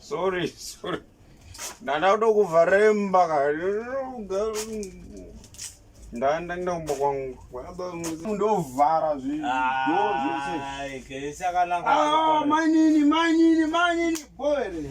sorry sorry ndanda kuda kuvaremba ndanda kuda kumba kwangu ndovhara zvidomainini mainini mainini boere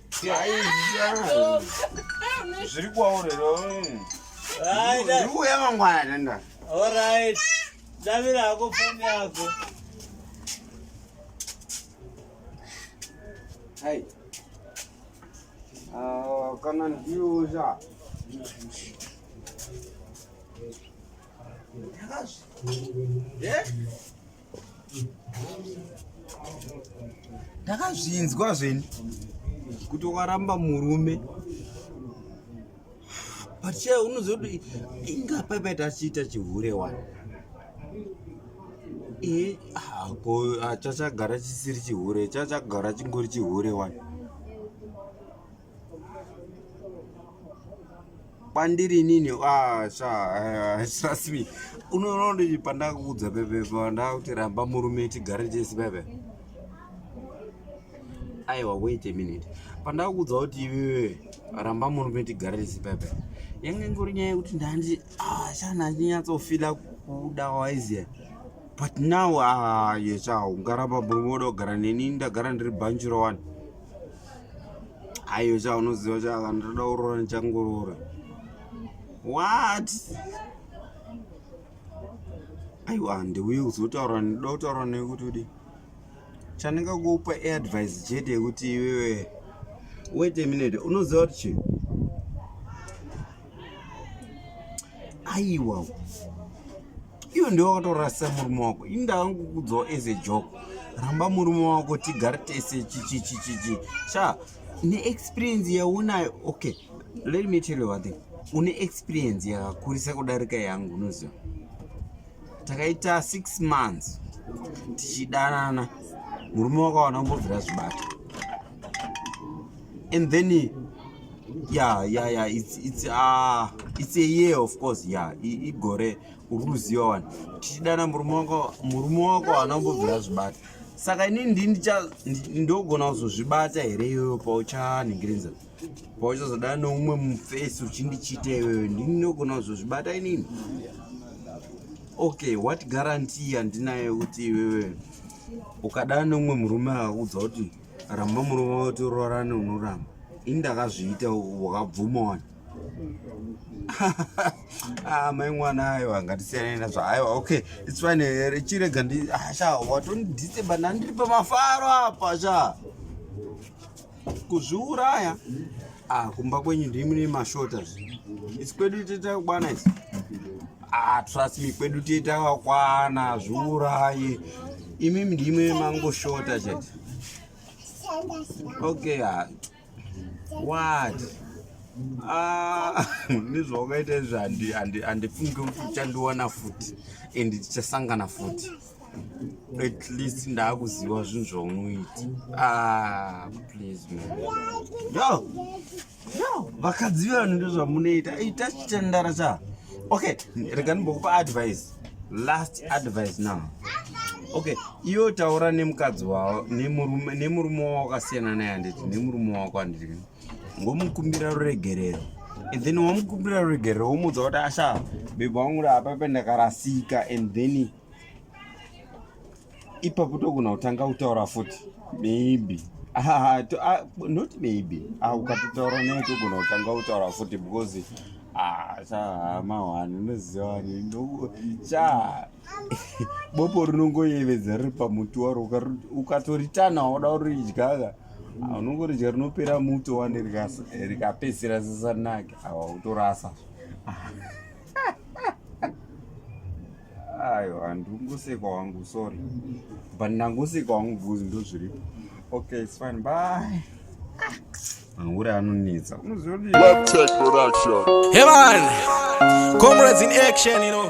zviri kwaurero ndikuuya mangwana tenda orit davira hako foni yako hai ah, kana ndiuza Yes. ndakazvinzwa zveni kuti waramba murume but che unoziva kuti inga paipaita achiita chihure wani e hako ah, chachagara chisiri chihure chachagara chingori chihure wani kwandiri inini ah, sha eh, trust me unoona kuti pandakuudza pepe pandakuti ramba murume tigare tese pepe aiwa wait a minute pandakuudza kuti iwewe ramba murume tigare tese pepe yange ingori nyaya yekuti ndandi ah, sha ndandinyatsofila kuda waiziya but now ah, yesha ungaramba murume uda kugara neni ndagara ndiri banjiro wani aiyo chaunoziva chaka ndoda kuroora ndichangoroora what aiwa handiuye kuzotaura ndoda kutaura newe kuti udi chandingakupa advice chete yekuti iwewe wait a minute unoziva kuti chii aiwa iyo ndiwe wakatorasa murume wako ini ndakangokudzawo as a joke ramba murume wako tigare tese chichichichichi sha neexperience yaunayo okay let me tell you one thing une experience yakakurisa kudarika yangu unoziva takaita six months tichidanana murume wakawana kumbobvira zvibata and then yeah yeah yeah it's it's uh it's a year of course yeah igore uri kuziva wani tichidana murume wako murume wako haana kumbobvira zvibata saka ini ndini ndogona kuzozvibata here iyoyo pauchanhingirinza pauchazodana neumwe mufesi uchindichita iyoyo ndini ndogona kuzozvibata inini okay what guarantee yandinayo kuti iwewe ukadana neumwe murume akakuudza kuti ramba murume wati urorane unoramba ini ndakazviita wakabvuma wani ah, mai mwana ayo hangatisiyane nazvo aiwa okay its fine eh, chirega ndi ah, sha watondidiseba ndandiri pamafaro apa sha kuzviuraya Ah, kumba kwenyu ndiri mune mashota isi kwedu toita kukwana isi ah, trust me kwedu toita kakwana zviurayi imimi ndimwe mangoshota chete okay ah. what ah, nezvawakaita izvi handifungi kuti uchandiwana futi and tichasangana futi at least ndakuziva zvinhu zvaunoita ah, please man yo yo vakadzi vanhu ndozvamunoita ita chitandara cha okay rega ndimbokupa advice last advice now okay iwe taura nemukadzi wavo nemurume wavo wakasiyana naye handiti nemurume wako handiti ngomukumbira ruregerero and then wamukumbira ruregerero womuudza kuti asha bhebha wangu raapa pendakarasika and then ipapo togona kutanga kutaura futi maybe ah, to, ah, not maybe ah, ukatotaura naye togona kutanga kutaura futi because ah, chamahwani unozivani cha bopo rinongoyevedza riri pamuti waro ukatoritana wada uridyaka ah, unongoridya rinopera muto wani rikapedzisira zisanake awa utorasa ayo handingoseka wangu sorry but ndangoseka wangu buz ndozviripo okay it's fine bye mahure anonetsa unoziva hevan comrades in action you know